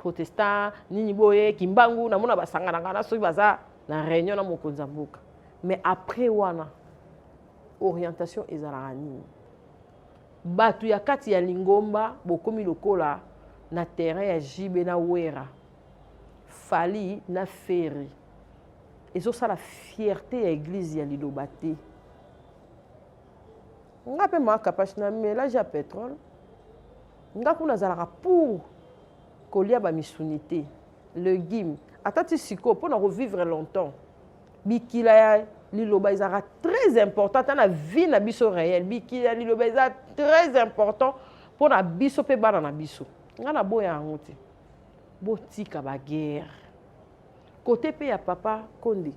protestant nini boye kimbangu namona basangana ngana soki baza na réunion na mokonzi ya mboka mais après wana orientation ezalaka nini bato ya kati ya lingomba bokomi lokola na terrain ya jibe na wera fali na ferre ezosala fierte ya eglize ya liloba te nga mpe mwa kapash na melage ya petrole nga kuna azalaka pour kolia bamisuni te legume ata ti sikoyo mpo na kovivre longtemps bikila ya liloba ezalaka très important ata na vie na biso réel bikila ya liloba eza très important mpo na biso mpe bana na biso ngai naboya yango te botika baguerre kote mpe ya papa konde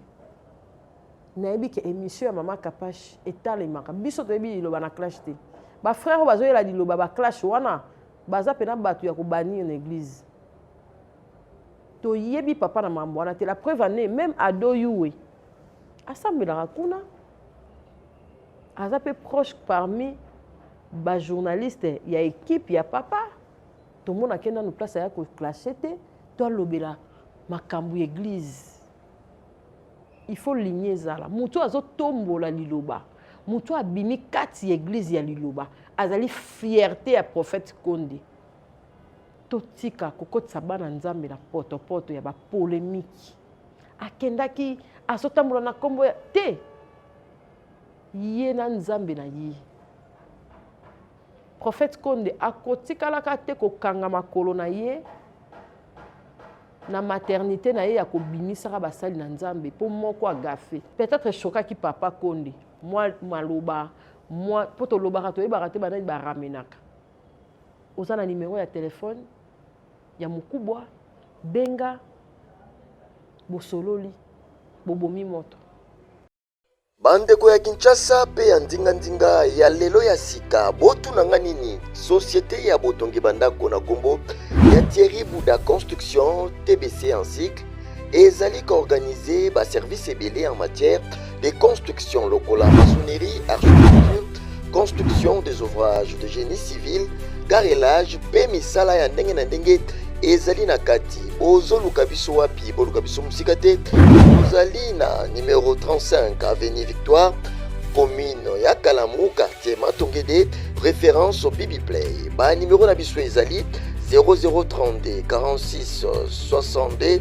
nayebi ke émission ya mama kapash etalemaka biso toyebi liloba na clash te bafrère oyo bazoyela liloba baclash wana baza mpena bato ya kobanir na église toyebi papa na mambo wana te la preuve ane même ado yuwe asambelaka kuna aza mpe proche parmi bajournaliste ya équipe ya papa tomonake nanu place aya koclashe te to alobela makambo ya église il faut ligne ezala moto oyo azotombola liloba moto oyo abimi kati ya eglize ya liloba azali fierte ya prophète konde totika kokotisa bana nzambe na potopoto ya bapolemiki akendaki azotambola na nkombo ya te ye na nzambe na ye prophète konde akotikalaka te kokanga makolo na ye na maternité na ye ya kobimisaka basali na nzambe mpo moko agafe peut-être eshokaki papa konde mwa maloba mwa mpo tolobaka toyebaka te banani baramenaka oza na nimero ya telefone ya mokubwa benga bosololi bobomi moto bandeko ya kinshasa mpe ya ndinga-ndinga ya lelo ya sika botuna nga nini societe ya botongi bandako na nkombo ya thierry bouda construction tbc en cycle ezali koorganize baservice ebele en matière de construction lokola maçonnerie architecture construction des ouvrages de génie civil carrelage mpe misala ya ndenge na ndenge ezali na kati bozoluka biso wapi boluka biso mosika te tozali na numero 35 avenue victoire commune ya kalamu quartier matongede référence au bibiplay banimero na biso ezali 0032 46 62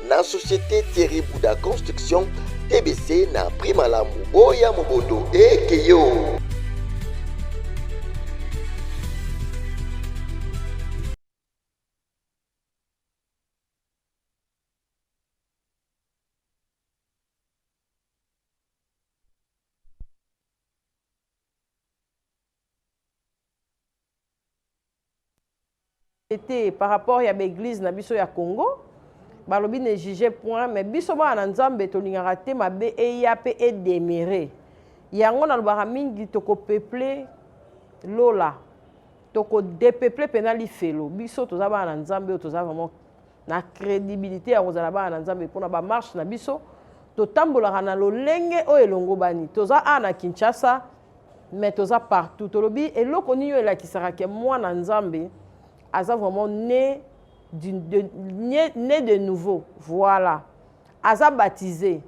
na société Thierry Bouda Construction TBC na prix malamu boya mobondo ekeyo te par rapport ya baeglise na biso ya congo balobi ne juge point mais biso bana na nzambe tolingaka te mabe eya mpe edemire yango nalobaka mingi tokopeple lola tokodepeple mpena lifelo biso toza bana na nzambe oyo toza vraiment na credibilité ya kozala bana na nzambe mpo na bamarche na biso totambolaka na lolenge oyo elongobani toza a na kinshasa mais toza partout tolobi eloko nini oyo elakisaka ke mwana nzambe aza vraiment né de, de, né, né de nouveau voilà aza baptisé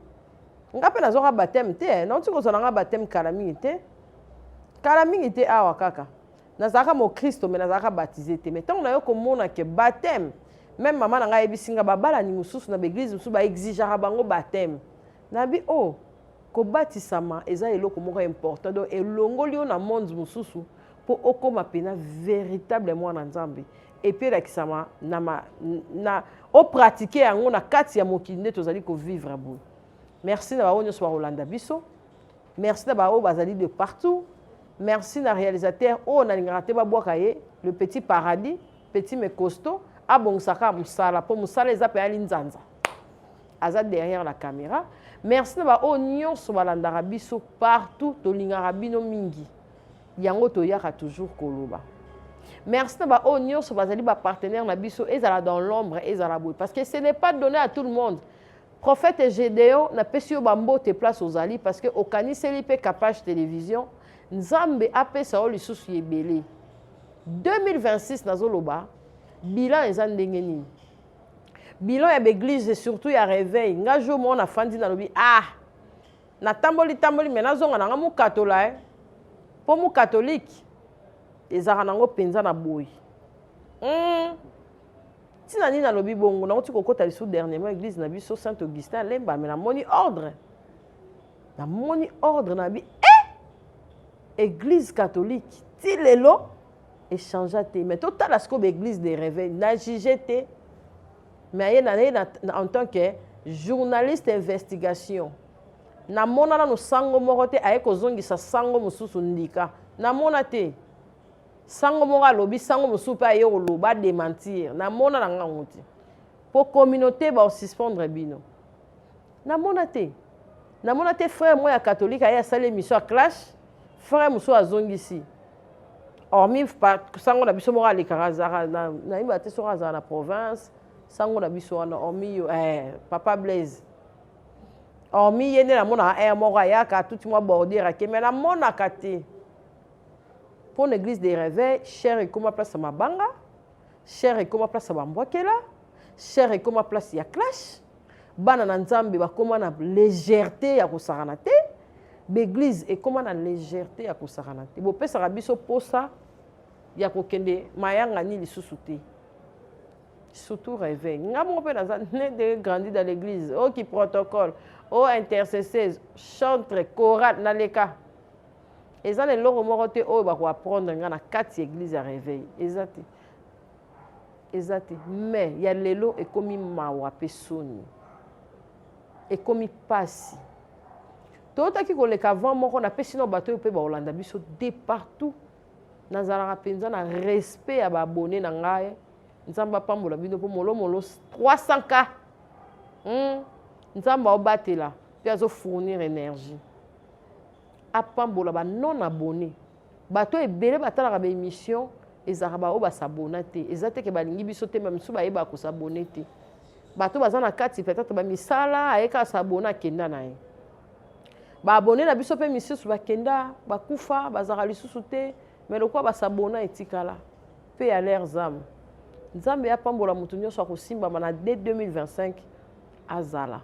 nga mpe nazwaka bateme te eh. nauti kozwa na nga bateme kala mingi te kala mingi te awa kaka nazalaka mokristo me nazalaka batize te me ntango nayo komona ke bateme meme mama na ngai ayebisi ngai babalani mosusu na baeglize mosusu baexigeaka bango bateme nabi o oh, kobatisama eza eloko moko important donc elongoli yo na monde mosusu mpo okóma mpena véritable mwana nzambe epuis elakisama na, ma, na opratike yango na kati ya mokili nde tozali kovivre boye merci na bango nyonso bakolanda biso Merci na ba oyo bazali de partout. Merci na realisateur oyo nalingaka te babwaka ye le petit paradis petit mais costaud abongisaka mosala mpo mosala eza mpe ali nzanza aza derrière la caméra merci na baoyo nyonso balandaka biso partout tolingaka bino mingi yango toyaka toujours koloba merci na baoyo nyonso bazali bapartenaire na biso ezala dans l'ombre ezala boye parce que ce n'est pas donné à tout le monde Prophète Gedeon na pesi yo ba mbote place ozali parce que okaniseli pe Kapash Television Nzambe apesa yo lisusu yebele 2026 nazoloba bilan eza ndenge nini bilan ya baeglise surtout ya réveil nga jour moko nafandi nalobi ah natamboli tamboli me nazonga nanga mokatola e eh. mpo mokatolike ezalaka nango mpenza na boyi mm. ntina nini nalobi bongo nauti kokota lisusu dernièrement église na biso saint augustin alemba me namoni ordre namoni ordre na bi e église catholique ti lelo echangea te mais totala sikoyo baéglise de réveil na juge te mais aye naye en tant que journaliste investigation namona nano sango moko te aye kozongisa sango mosusu ndika namona te Sango moko alobi, sango mosusu mpe aye koloba, a dementir. Namona na nga ngo te. Po communauté ba suspendre bino. Namona te. Namona te frère moko ya catholique aye asali emission ya clash, frère mosusu azongisi. Hormis sango na biso moko alekaka azalaka na nayeba te soki azalaka na province, sango na biso wana hormis yo eh, papa Blaise hormis ye nde namonaka aire moko ayaka atuti mwa bordure ake me namonaka te Pour l'église des réveils, cher ekoma place ya mabanga, cher ekoma place ya bambwakela, cher ekoma place ya clash. Bana na Nzambe bakoma na légèreté ya kosakana te. L'église ekoma na légèreté ya kosakana te. Bopesaka biso posa ya kokende mayangani lisusu te. surtout réveil nga moko mpe naza ne de grandi dans l'église oki oh, protocole o oh, intercesseuse chantre chorale naleka Eza na eloko moko te oyo bako apprendre nga na kati ya eglise ya reveil. Eza te. Eza te. Mais ya lelo ekomi mawa pe soni. Ekomi pasi. Totaki koleka avant moko na pesi na bato pe ba Olanda biso de partout. Nazalaka penza na respect ya ba abonné na ngai. Nzambe apambola bino po molo molo 300k. Hmm. Nzambe aobatela pe azo fournir energie. apambola ba non abonne bato ebele batalaka ba emission ezalaka baoyo basabona te eza te ke balingi biso te ba misusu bayebaka kosabone te bato baza na kati peut-être bamisala aye kaka sabona akenda na ye baabone na biso mpe misusu bakenda bakufa bazalaka lisusu te me lokola basabona etikala mpe ya lere zame nzambe apambola moto nyonso akosimbama na de 2025 azala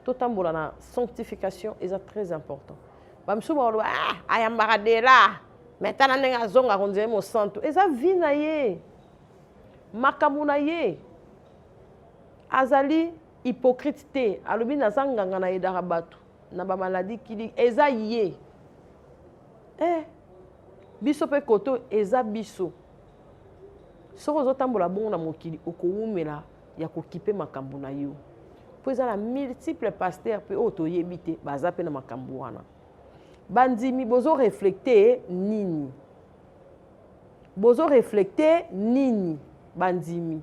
totambola na sanctification eza très important bamisusu bakoloba ah, ayambaka dela me tala ndenge azonga konzele mosantu eza vi na ye makambo na ye azali hypocrite te alobi naza nganga na edaka bato na bamaladi kili eza ye eh, biso mpe koto eza biso soki ozotambola bongo na mokili okowumela ya kokipe makambo na yo mpo eza na multiple pasteur mpe oyo toyebi te baza mpe na makambo wana bandimi bozo reflekte nini bozo reflekte nini bandimi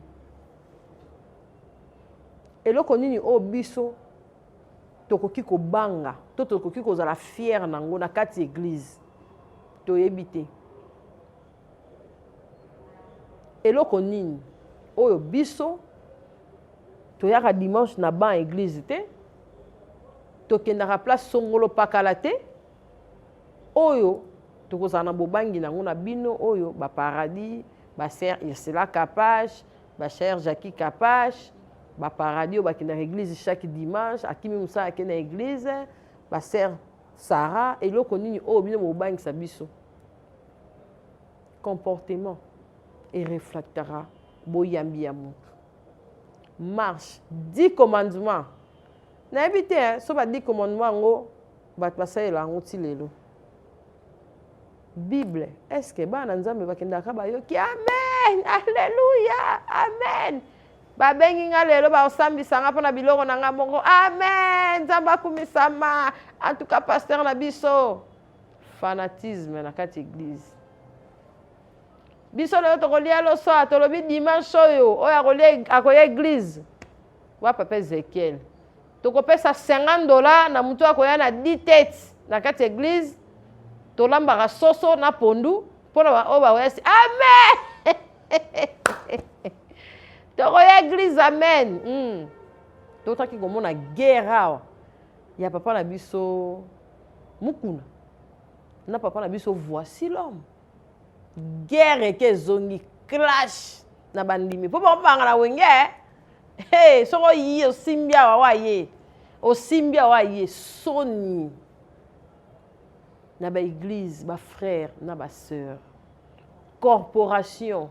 eloko nini oyo biso tokoki kobanga to tokoki kozala fiere na yango na kati eglize toyebi te Eloko nini oyo biso toyaka dimanche na ban eglise te tokendaka place songolo pakala te oyo tokozala na bobangi na yango na bino oyo baparadis basere ursula kapache basere jacqui kapache baparadis oyo bakendaka eglise chaque dimanche akimi mosala ake na eglise basere sara eloko nini oyo bino bobangisa biso comportement et refractera boyambi ya moto marche dix commandement nayebi te hein, so ba dix commandement yango bato basalela yango ti lelo bible est ce que bana nzambe bakendaka bayoki amen alleluya amen babengi nga lelo baosambisa nga mpo na biloko na nga moko amen nzambe akumisama antuka pasteur na biso fanatisme na kati eglise biso lelo tokolia loso awa tolobi dimanche oyo oyo akoya eglise wa papa ezekiel tokopesa 50 dola na motu akoya na ditete na kati ya eglise tolambaka soso na pondu mpo na baoyo bakoyasi amen tokoya eglise amen mm. totaki komona guerre awa ya papa na biso mukuna na papa na biso voici l'homme guerre eke ezongi clash na bandimi mpo bakobanga na wenge eh? hey, soki oyi osimbi awa waye osimbi awa waye soni na baeglize bafrère na basœur corporation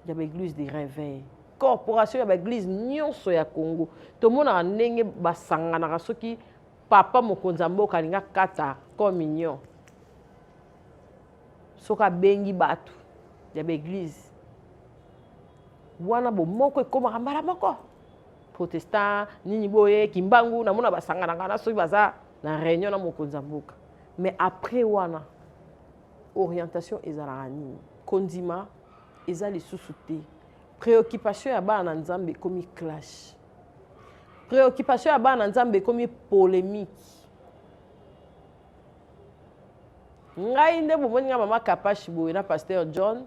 ya baeglise de reveil corporation ya baeglise nyonso ya congo tomonaka ndenge basanganaka soki papa mokonzi ya mboka alingi akata communion soki abengi bato ya baeglise wana bomoko ekomaka mbala moko protestant nini boye kimbangu namona basanganaka na soki baza na réunion na mokonzi ya mboka mais après wana orientation ezalaka nini kondima eza lisusu te préoccupation ya bana na nzambe ekomi clash préoccupation ya bana na nzambe ekomi polémique ngai nde bomoni ngai mama kapashi boye na pasteur john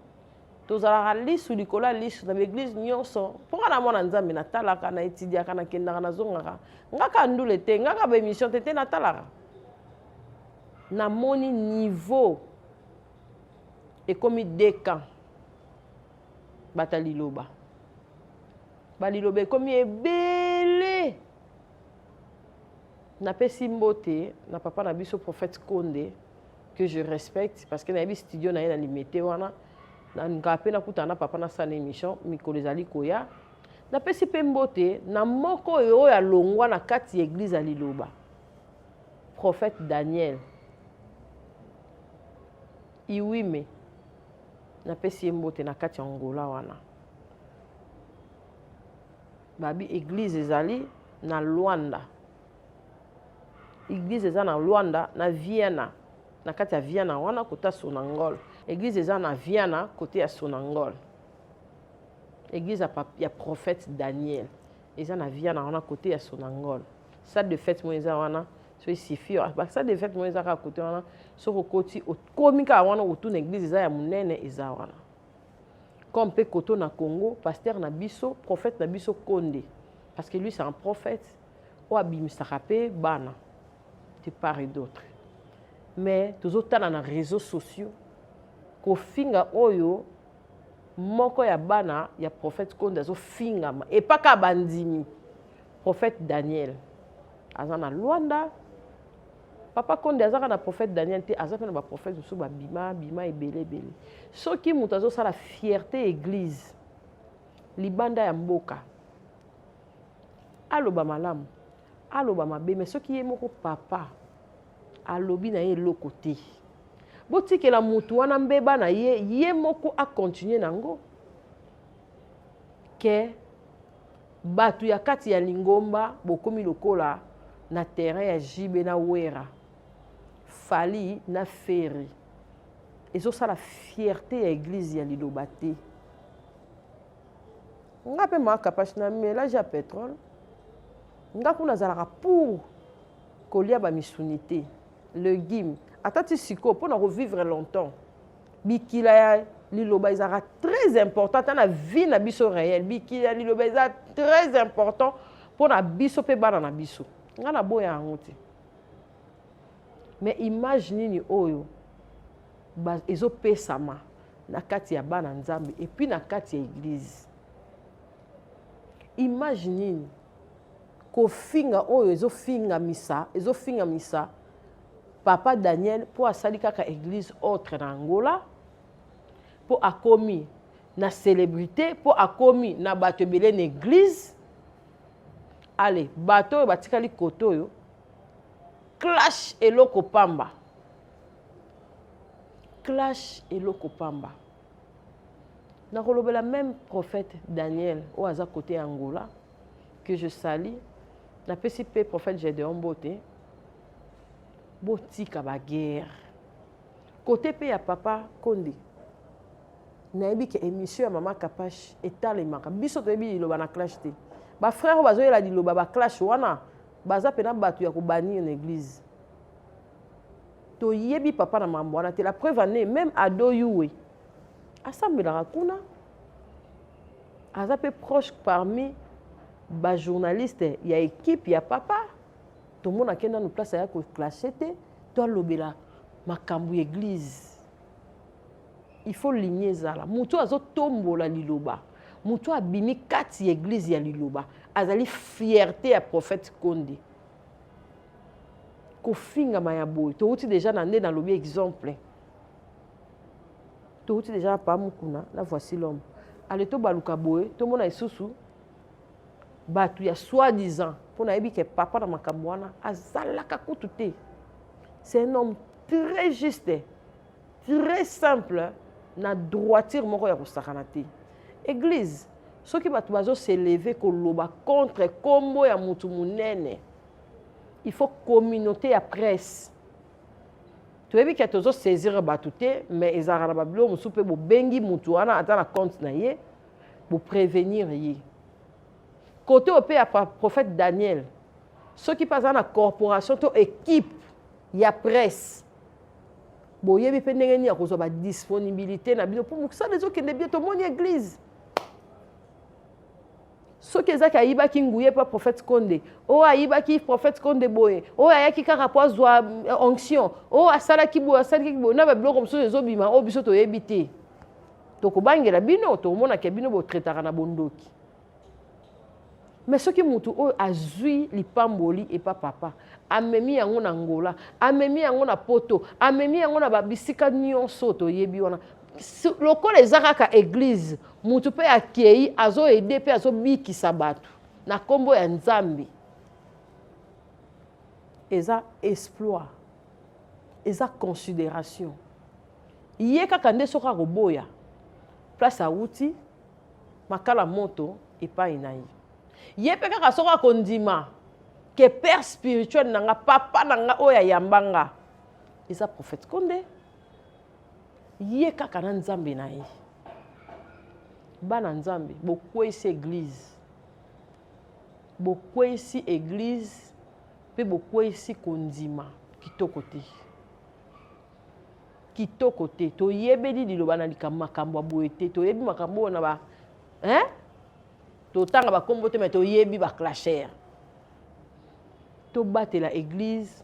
tozalaka lisu likolo ya lisu na baeglize nyonso mpo ngai na mwana nzambe natalaka na etidiaka nakendaka nazongaka ngaka ndule te ngaka baémission te te natalaka namoni niveau ekomi deux camps bato ya liloba baliloba ekomi ebele napesi mbote na papa na biso prophète konde que je respecte parce que nayebi studio na ye na limete wana nalingaka mpe nakutana na papa nasala émission mikolo ezali koya napesi mpe mbote na moko oyo oyo alongwa na kati ya eglize ya liloba prophète Daniel Iwime napesi ye mbote na kati ya Angola wana babi église ezali na Luanda église eza na Luanda na Vienna na kati ya Vienna wana kota Sonangol église eza na Vienna kote ya Sonangol église ya, ya prophète Daniel eza na Vienna wana kote ya Sonangol salle de fête moko eza wana so esifi basale de fête moko eza kaka kote wana soki okoti okomi kaka wana okotuna eglise eza ya monene eza wana comme mpe koto na congo pasteur na biso prophète na biso konde parce que lui c'est un prophète oyo abimisaka mpe bana de part et d'autre mais tozotala na réseaux sociaux kofinga oyo moko ya bana ya prophète konde azofingama epaka bandimi Prophète Daniel aza na Luanda. Papa Konde aza kaka na prophète Daniel te, aza mpe na ba prophètes mosusu ba bima bima ebele ebele. Soki moto azosala fierté église libanda ya mboka aloba malamu aloba mabe mais soki ye moko papa alobi na ye eloko te botikela motu wana mbeba na ye ye moko akontinue na yango ke Batu ya kati ya lingomba bokomi lokola na terrain ya JB na Wera, Fally na Ferre. Ezosala fierte ya eglise ya liloba te. Nga pe ma kapash na melage ya petrole. Nga kuna azalaka pour kolia ba misuni te. Legume. Ata ti siko pona ko vivre longtemps. bikila ya liloba ezalaka très important ata na vie na biso réel bikila ya liloba eza très important mpo na biso mpe bana na biso nga naboya yango te mais image nini oyo ezopesama na kati ya bana nzambe epuis na kati ya eglize image nini kofinga oyo ezofingamisa ezofingamisa Papa Daniel po asali kaka eglise autre na Angola po akomi na celebrite po akomi na bato ebele na eglise ale bato oyo batikali koto oyo clash eloko pamba clash eloko pamba nakolobela meme prophète daniel oyo aza kote ya angola que je sali napesi mpe prophète gedeon mbote botika baguerre kote mpe ya papa konde nayebi ke émission ya mama kapash etalemaka biso toyebi liloba na clash te bafrère oyo bazoyela liloba baclash wana baza mpena bato ya kobanir na église toyebi papa na mambo wana te la preuve ane même ado yuwe asambelaka kuna aza mpe proche parmi bajournaliste ya ekipe ya papa tomonake nanu place aya koclashe te to alobela makambo ya eglize il faut ligne ezala moto oyo azotombola liloba moto oyo abimi kati ya eglize ya liloba azali fierte ya prophète konde kofingama ya boye towuti deja na nde nalobi exemple touti deja na paa mokuna na voici l'homme ale tobaluka boye tomona lisusu bato ya soi-disant mpo nayebi ke papa na makambo wana azalaka kutu te c'est un homme très juste très simple na droiture moko ya kosakana te église soki bato bazoseleve koloba contre nkombo ya motu monene il faut communauté ya presse toyebi ke tozo saisir bato te mais ezalaka na babiloko mosusu mpe bobengi motu wana aza na compte na ye boprevenir ye kote oyo mpe ya prophète daniel soki mpe aza na corporation to équipe ya presse boyebi mpe ndenge nini ya kozwa badisponibilité na bino mpo mosala ezokende bie tomoni église soki ezaki ayibaki nguye mpo prophète konde oyo oh, ayibaki prophète konde boye oyo oh, ayaki kaka mpo azwa euh, onction oyo oh, asalaki boye asalaki boye na babiloko mosusu ezobima oyo biso toyebi te tokobangela bino tokomonaka bino botretaka na bondoki me soki moto oyo azwi lipamboli epa papa amemi yango na ngola amemi yango na poto amemi yango na babisika nyonso toyebi wana lokola eza kaka eglize mutu mpe akei azo ede mpe azobikisa bato na nkombo ya nzambe eza exploit eza consideration ye kaka nde soki akoboya place awuti makala moto epai na ye ye mpe kaka soki akondima ke père spirituel na nga papa na nga oyo ayamba nga eza prophète konde ye kaka na nzambe na ye bana nzambe bokweyisi eglize bokweyisi eglize mpe bokweyisi kondima kitoko te kitoko te toyebeli liloba na likambo makambo ya boye te toyebi makambo oyo na ba hein? totanga bakombo te me toyebi baclasher tobatela eglize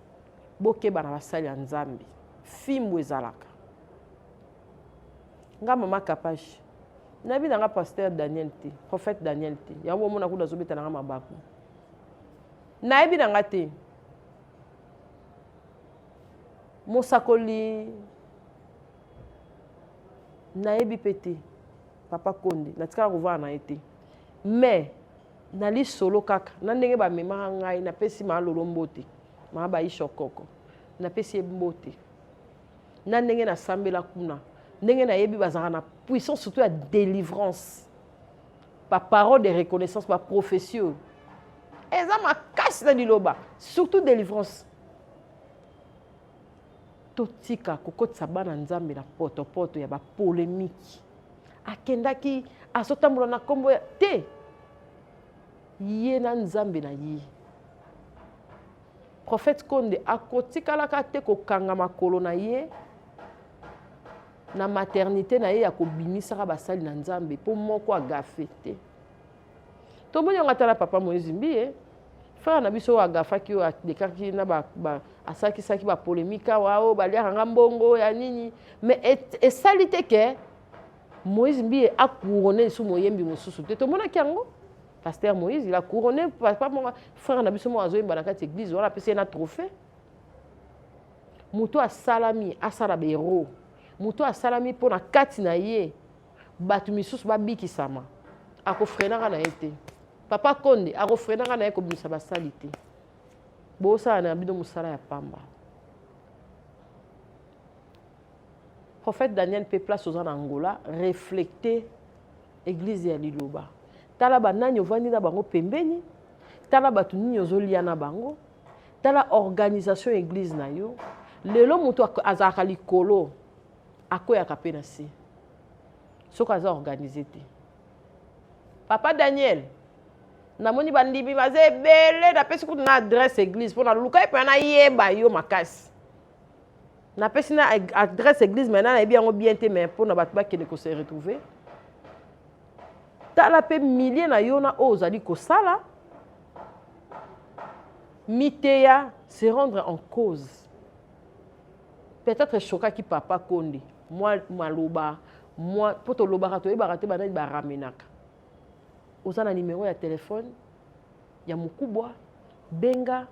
bokeba na basali ya nzambe fimbu ezalaka nga mama kapashi nayebi na nga pasteur daniel te prophète daniel te yango omona kuda azobeta na nga mabaku nayebi na nga te mosakoli nayebi mpe te papa konde natikala kovanda na ye te mais na lisolo kaka na ndenge bamemaka ngai napesi maa lolo mbote maa baisha okoko napesi ye mbote na ndenge nasambela kuna ndenge nayebi bazalaka na puissance surtout ya délivrance baparole de reconnaissance baprophétie oyo eza makasi na liloba surtout délivrance totika kokotisa bana nzambe na potopoto ya bapolemiki akendaki azotambola na nkombo ya te ye na nzambe na ye prophète konde akotikalaka te kokanga makolo na ye na maternité na ye ya kobimisaka basali na nzambe mpo moko agafe te tomoni yango ata na papa moïse mbiye frère na biso oyo agafaki oyo adekaki na asalakisaki bapolemike awa oyo baliaka nga mbongo ya nini mais esali te ke moïse mbiye akourone lisusu moyembi mosusu te tomonaki yango pasteur moïse il a couronné papa moko frère na biso moko azoyemba na kati église wana apesi ye na trophée moto asalami asala baero moto asalami mpo na kati na ye bato misusu babikisama akofrenaka na ye te papa konde akofrenaka na ye kobimisa basali te bosala na bino mosala ya pamba prophète daniel mpe place oza na angola reflecte eglise ya liloba tala banani ovandi na bango pembeni tala bato nini ozolia na bango tala organisation ya eglise na yo lelo moto azalaka likolo akweyaka mpe na se soki aza organise te papa daniel namoni bandimi baza ebele napesi kutu na adresse église mpo naluka epena nayeba yo makasi napesi na adresse église mai na nayebi yango bien te mai mpo na bato bakende kose retrouve tala mpe milie na yo na oyo ozali kosala miteya se rendre en cause peut-être eshokaki papa konde mwa maloba mwa mpo tolobaka toyebaka te banani baramenaka oza na nimero ya telefone ya mokubwa benga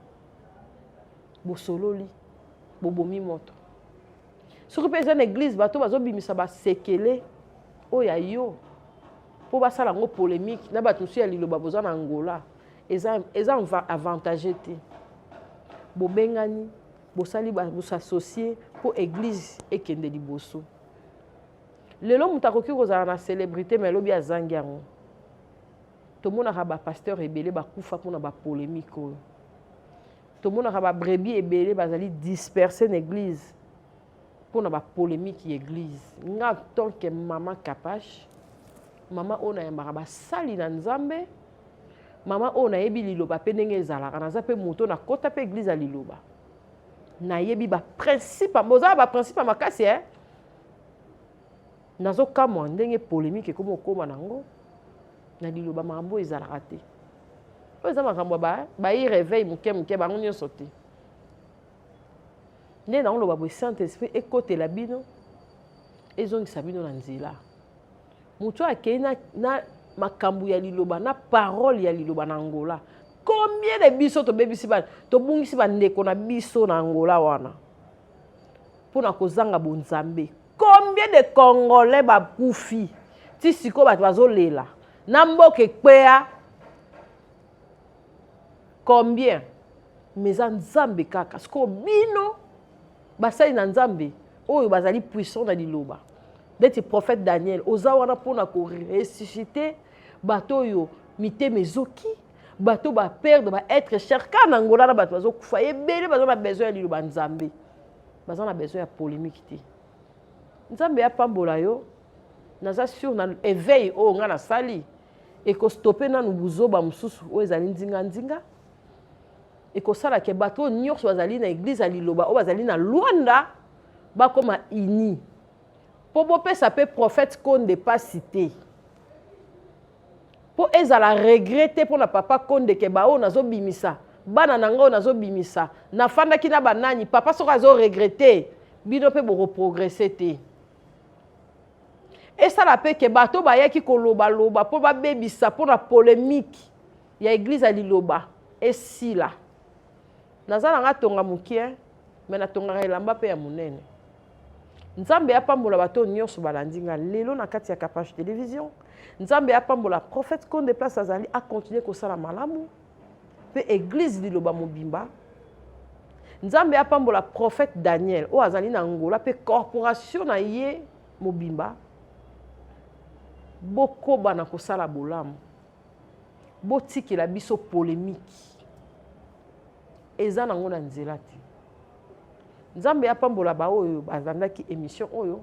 bosololi bobomi moto soki mpe eza na eglize bato bazobimisa basekele oyo ya yo mpo basala yango polémique na bato mosusu ya liloba boza na angola eza, eza avantage te bobengani bosali bosasocie mpo eglise ekende liboso lelo moto akoki kozala na célébrité mai lobi azangi yango tomonaka bapasteur ebele bakufa mpona bapolémike oyo tomonaka babrebi ebele bazali disperse na église mpona bapolémike ya église nga tant que mama kapache mama oyo nayambaka basali na nzambe Mama oyo nayebi liloba pe ndenge ezalaka, naza pe moto na kota pe eglise ya liloba. Nayebi ba principe, boza ba principe makasi eh. Nazo kamwa ndenge polemique ekomi okoma nango na liloba makambo ezalaka te. Oyo eza makambo ya ba ba y réveil moke moke bango nyonso te. Nde na oloba boye Saint-Esprit ekotela bino ezongisa bino na nzela. moto oyo akei na, na makambo ya liloba na parole ya liloba na angola combien de biso tobebisi ba tobungisi bandeko na biso na angola wana mpo na kozanga bonzambe combien de congolais bakufi ti sikoyo bato bazolela na mboka ekweya combien mais eza nzambe kaka sikoyo bino basali na nzambe oyo bazali puissant na liloba ndeti prophète daniel oza wana mpo na koressuscite bato oyo mitema ezoki bato baperdre baêtre cher kaka na ngola na bato bazokufa ebele baza na besoin ya liloba nzambe baza na besoin ya polémique te nzambe apambola yo naza sur na éveil oyo ngai nasali ekostope nanu buzoba mosusu oyo ezali nzinganzinga ekosala ke bato oyo nyonso bazali na eglize ya liloba oyo bazali na lwanda bakoma uni mpo bopesa mpe prophète konde mpasi te mpo ezala regret te mpo na papa konde ke baoyo nazobimisa bana na ngai oyo nazobimisa nafandaki na banani papa soko azoregrete bino mpe bokoprogrese te esala mpe ke bato bayaki kolobaloba mpo babebisa mpo na polemike ya eglize ya liloba esila naza na nga tonga mokie me natongaka elamba mpe ya monene nzambe apambola bato oyo nyonso balandi nga lelo na kati ya capage television nzambe apambola prophète konde place azali akontinue kosala malamu mpe eglise liloba mobimba nzambe apambola prophète daniel oyo azali na ngola mpe corporation na ye mobimba bokoba na kosala bolamu botikela biso polemiki eza nango na nzela te nzambe apambola baoyo balandaki émission oyo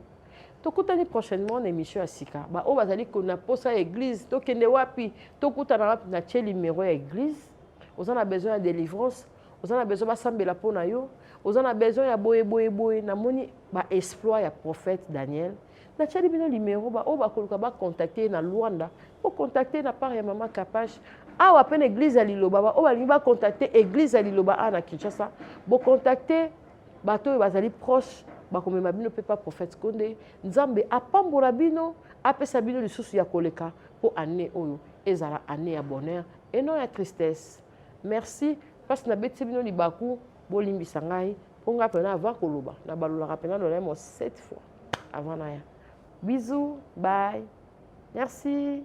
tokutani prochainement na émission ya sika baoyo bazali na mposa ya église tokende wapi tokutana wapi na tie numero ya église oza na besoin ya délivrance oza na besoin basambela mpo na yo oza na besoin ya boye boye boye namoni baexploit ya prophète daniel natiali bino numero baoyo bakoluka bacontacte na luanda bocontacte na part ya mama kapash awa mpe na église ya liloba baoyo balingi bacontacte église ya liloba awa na kinshasa bocontacte bato oyo bazali proche bakomema bino mpe pa prophète konde nzambe apambola bino apesa bino lisusu ya koleka mpo année oyo ezala année ya bonheur et non ya tristesse merci mpasi nabetisi bino libaku bolimbisa ngai mpo ngai mpena avant koloba nabalolaka mpena lolemo sept fois avant naya bisous bye merci